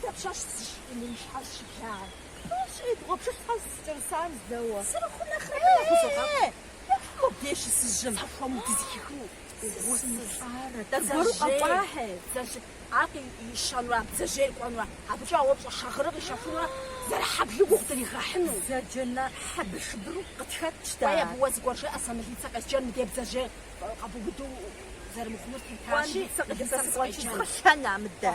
Дэ пщащ зыщӏын и щхьэр щыблагъэ. Тӏощӏи, бгъуэпшыщхьэр сыкӏэрысан зэуэ. Сырыхъу нэхърэ дэ яхузогъэпӏ. Ехьу мыбдеж щысыжьым. Сахуэму дызэхихыу гъусысӏарэ. Дэ зыгуэру къэкӏуахьи. Дзажэ, ар ищэнурэ, бдзэжьейр кӏуэнурэ, абыкӏэ а уэпщӏэ шагъырыр къищэхунурэ зэрыхьэблу гугъу дригъэхьыну. Дзажэ на хьэбыршыбыру къытхэтщ дэ. Кӏуэ, абы уэ зыгуэр жыӏэ, сэ мылицэ къесджэн мыдей бдзэжьей къэбубыду зэрымыхъунур тетащи, мылицэ къыдэсыр къэсджэн. Сыкъэщӏэкӏыу сыкъэщӏэн а мыдэ.